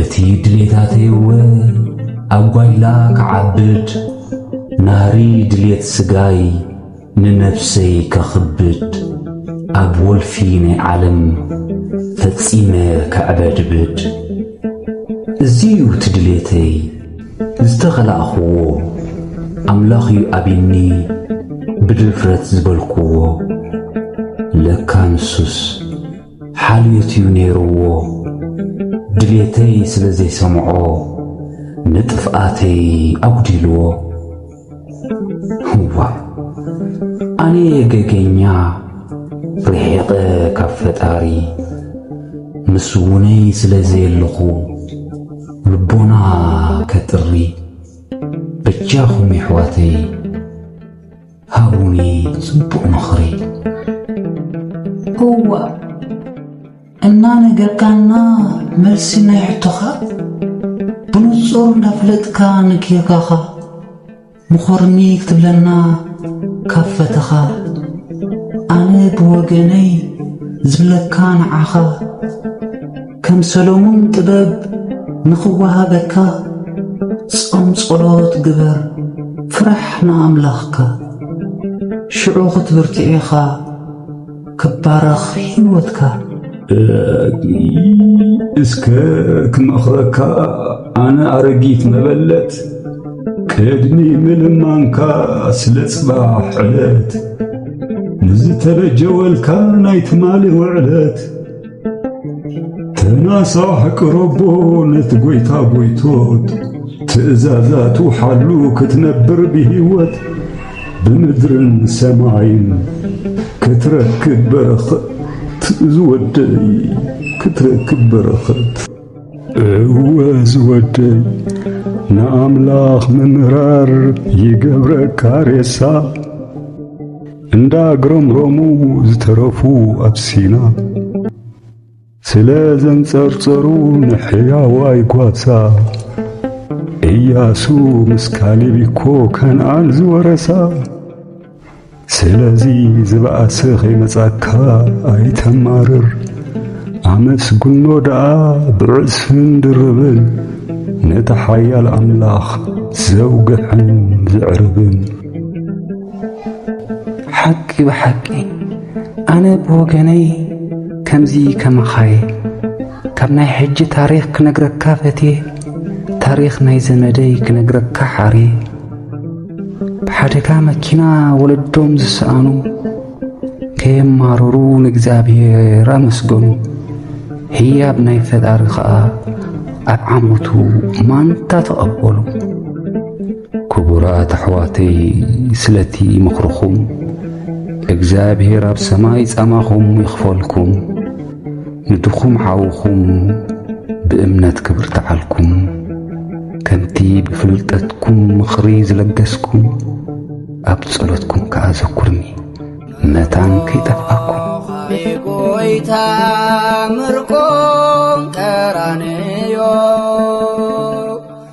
እቲ ድሌታተይወ ኣብ ጓይላ ክዓብድ ናህሪ ድሌት ስጋይ ንነፍሰይ ከኽብድ ኣብ ወልፊ ናይ ዓለም ፈጺመ ከዕበድብድ እዚ'ዩ እቲ ድሌተይ ዝተኸላእኽዎ ኣምላኽ'ዩ ኣቢኒ ብድፍረት ዝበልክዎ ለካ ንሱስ ሓልዮት'ዩ ነይሩዎ ድሌተይ ስለ ዘይሰምዖ ንጥፍኣተይ ኣጉዲሉዎ ዋእ ኣነ'የ ገገኛ ርሒቐ ካብ ፈጣሪ ምስውነይ ስለ ዘየለኹ ልቦና ከጥሪ በጃኹም የሕዋተይ። ሃቡኒ ጽቡቕ ምኽሪ እዋእ እናነገርካና መልሲ ናይ ሕቶኻ ብንጹር እንዳፍለጥካ ንጌጋኻ ምኾርኒ ክትብለና ካብ ፈተኻ ኣነ ብወገነይ ዝብለካ ንዓኻ ከም ሰሎሞን ጥበብ ንኽወሃበካ ጾም ጸሎት ግበር ፍራሕ ንኣምላኽካ ሽዑ ክትብርትዕ ኢኻ ክባረኽ ሕይወትካ። እስከ ክመኽረካ ኣነ ኣረጊት መበለት ቅድሚ ምልማንካ ስለ ጽባሕ ዕለት ንዝተበጀወልካ ናይ ትማሊ ውዕለት ተናሳሕ ቅረቦ ነቲ ጐይታ ጐይቶት ትእዛዛቱ ሓሉ ክትነብር ብህይወት ብምድርን ሰማይን ክትረክብ በረኸት ዝወደይ ክትረክብ በረኸት እወ ዝወደይ ንኣምላኽ ምምራር ይገብረካ ሬሳ እንዳ ግረምረሙ ዝተረፉ ኣብ ሲና ስለ ዘንጸርጸሩ ንሕያዋይ ጓሳ ኢያሱ ምስ ካሌብ እኮ ከነኣን ዝወረሳ ስለዚ ዝበኣሰ ከይመጻካ ኣይተማርር ኣመስግኖ ደኣ ብዕጽፍን ድርብን ነቲ ሓያል ኣምላኽ ዘውግሕን ዘዕርብን ሓቂ ብሓቂ ኣነ ብወገነይ ከምዚ ከማኻየ ካብ ናይ ሕጂ ታሪኽ ክነግረካ ፈትየ ታሪኽ ናይ ዘመደይ ክነግረካ ሓርየ ሓደጋ መኪና ወለዶም ዝሰኣኑ ከየማረሩ ንእግዚኣብሔር ኣመስገኑ። ህያብ ናይ ፈጣሪ ኸኣ ኣብ ዓመቱ ማንታ ተቐበሉ። ክቡራት ኣሕዋተይ ስለቲ ምኽርኹም እግዚኣብሔር ኣብ ሰማይ ጻማኹም ይኽፈልኩም። ንድኹም ሓውኹም ብእምነት ክብርትዓልኩም ከምቲ ብፍልጠትኩም ምኽሪ ዝለገስኩም ኣብ ጸሎትኩም ከኣ ዘኩርኒ መታን ከይጠፍኣኩም ጎይታ ምርኮም ቀራንዮ